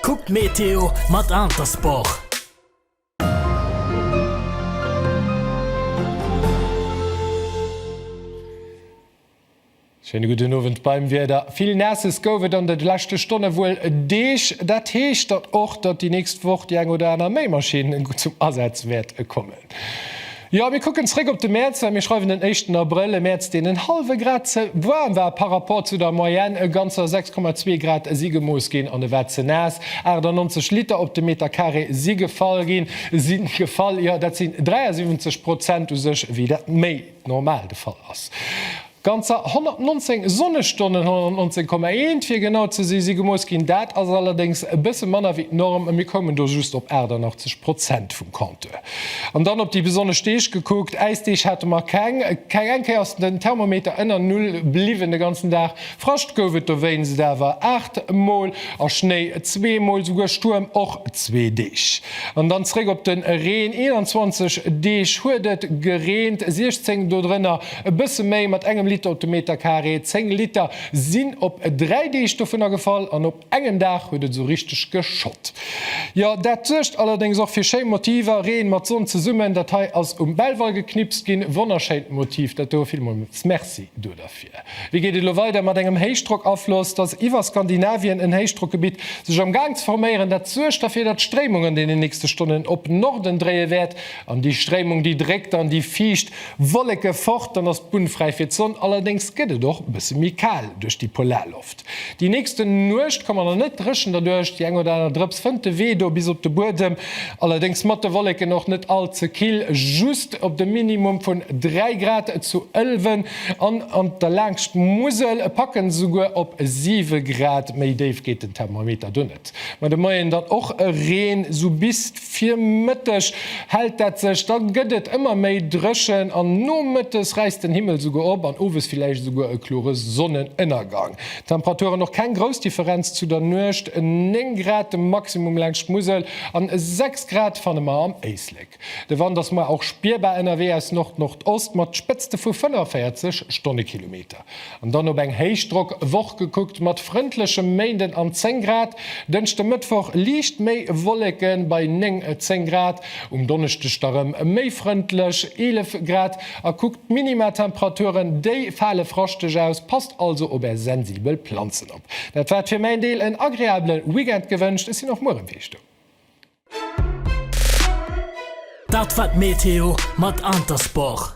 Kuck d'Meteo mat Intersport! Schéine gudden Owend beim Wieder. Vill Naesses gouf et an de leschte Stonne wuel Deeg. Dat heescht dann och, datt déi nächst Woch déi eng oder aner Méimaschinn zum Asaz wäert kommen. Jo, mir kucken zréck op de Mäerz, mä mir schreiwen den éischten Abrëll, e Mäerz, deen en hallwe Grad ze waarm war par rapport zu der Moyenne, e ganzer 6,2 Grad si gemooss ginn an e war ze naass. 98 Liter op de Meterkaree si gefall ginn, si gefall, jo, dat sinn 73 Prozent u sech, wéi dat méi normal de Fall ass. Ganzer 119 Sonnestonnen, 119,1 fir genau ze si, si gemooss ginn. Dat ass allerdéngs e bësse manner wéi d'Norm, a mir koumen do just op 88 Prozent vum Compteur. An dann op déi besonnesch Deeg gekuckt, Äisdeeg hate mer keng. Keng eng Kéier ass den Thermometer ënner Null bliwwen de ganzen Dag. Frascht gouf et dowéinst awer 8 Mol a Schnéi zwee Mol, esouguer Stuerm och zwee Deeg. An dann zréck op de Reen, 21 Deeg huet et gereent, 16 dodrënner E bësse méi mat engem Liter op de Meterkaree, 10 Liter sinn op 3 Deeg dovunner gefall an op engem Dag huet et esou richteg geschott. Jo, dat suergt allerdéngs och fir schéi Motiver, Reen mat Sonn zesummen. Dat hei ass um Belval geknipst ginn, wonnerschéint Motiv dat do, villmools Merci do derfir. Wéi geet et elo weider? Mat engem Héichdrockafloss, et ass iwwer Skandinavien en Héichdrockgebitt sech am Gaang ze forméieren, dat suergt derfir, datt d'Stréimung an deenen nächste Stonnen op Norden dréie wäert an déi Stréimung déi dréckt an déi fiicht Wolleke fort, dann ass d'Bunn fräi fir d'Sonn. Allerdéngs gëtt et och e bësse méi kal duerch déi Polarloft. Déi nächste Nuecht ka mer dann net dréchen, derduerch déi eng oder aner Drëps fënnt de Wee do bis op de Buedem. Allerdéngs mat de Wolleken och net all ze kill, just op de Minimum vun 3 Grad zu Ëlwen an an der laangscht d'Musel packen esouguer op 7 Grad. Méi déif geet den Thermometer do net. Mä de Moien dann och e Reen, sou bis Virmëtteg hellt dat sech, da gëtt et ëmmer méi dréchen an nomëttes räisst den Himmel souguer op an owes villäicht esouguer e klore Sonnenënnergang. Temperaturen och keng grouss Differenz zu der Nuecht, 9 Grad de Maximum laangscht d'Musel an 6 Grad fanne mer am Éislek. De Wand ass muer och spierbar ënnerwee aus Nord-Nordost mat Spëtzte vu 45 Stonnekilometer. An dann op eng Héichdrockwoch gekuckt, mat frëndlechem Méinden an 10 Grad, Dënschde, Mëttwoch liicht méi Wolleke bei 9, 10 Grad, um Donneschdeg da rëm méi frëndlech, 11 Grad. A kuckt d'Minima-Temperaturen, déi fale fraschteg aus, passt also op är sensibel Planzen op. Dat war et fir mäin Deel, en agreabele Weekend gewënscht, ech sinn och muer erëm fir iech do. Dat war d'Meteo mat Intersport.